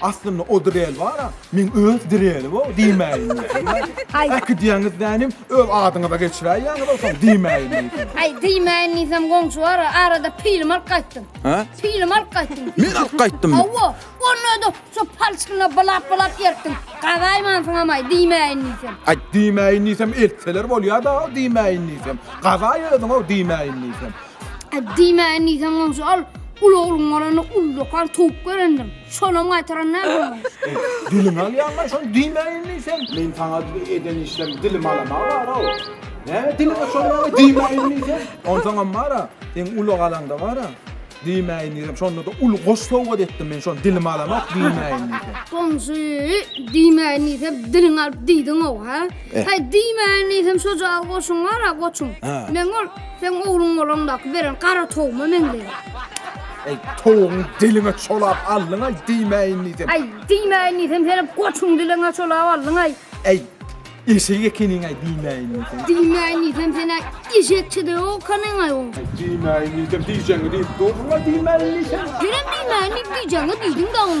Aslynda o Drell bar-a, men öz Drelli-o diýmäýin diýsem. Äkidiýäňiz dänim, öz adyňyza geçiräýýäňiz-ow soň diýmäýin diýsem. Aý, diýmäýin diýsem goňşy bar-a, arada pilim alyp gaýtdym. Hä? Pilim alyp gaýtdym. Men alyp gaýtdymmy? Hawa, onda-da şo palçygyna bylap-bylap ertdim. Gazaýmansyňam-aý, diýmäýin diýsem. Aý, diýmäýin diýsem eltseler bolýa-da-ow diýmäýin diýsem. Gazaý özüň-ow diýmäýin diýsem. Diýmäýin diýseň goňşy ol uly ogluň bolanda ullakan towuk berendim. Şonam gaýtaran däl goňşy. Diliňi alýaňmy şony diýmäýin diýseň? Meň saňa eden işlerim dilimi alamaga bar-ow. Näme diliňe çorbaňy diýmäýin diýseň? Onsoňam bar-a, seň uly galaňda bar-a, diýmäýin diýseň, şonda-da uly goş sowgat etdim men şony dilimi alamok diýmäýin diýseň. Goňşy, diýmäýin diýsem diliňi alyp diýdiň-ow, hä? Häý, diýmäýin diýsem şo jaýyl goşuň bar-a, goçuň. Meň ol Seň ogluň bolanda beren gara towuma meňzeýär. Eý, towugyň diliňe çolap aldyň-aý, diýmäýin diýsem. Aý, diýmäýin diýsem, senem goçuň diliňe çolap aldyň-aý. Eý, eşek ekeniň-aý, diýmäýin diýsem. Diýmäýin diýsem, sen-ä eşekçe-de ýok ekeniň-aý oň. Aý, diýmäýin diýsem, diýjegiňi diýip durduň-aý, diýmäýin diýsem. Senem diýmäýin diýip diýjegiňi diýdiň-dä oň.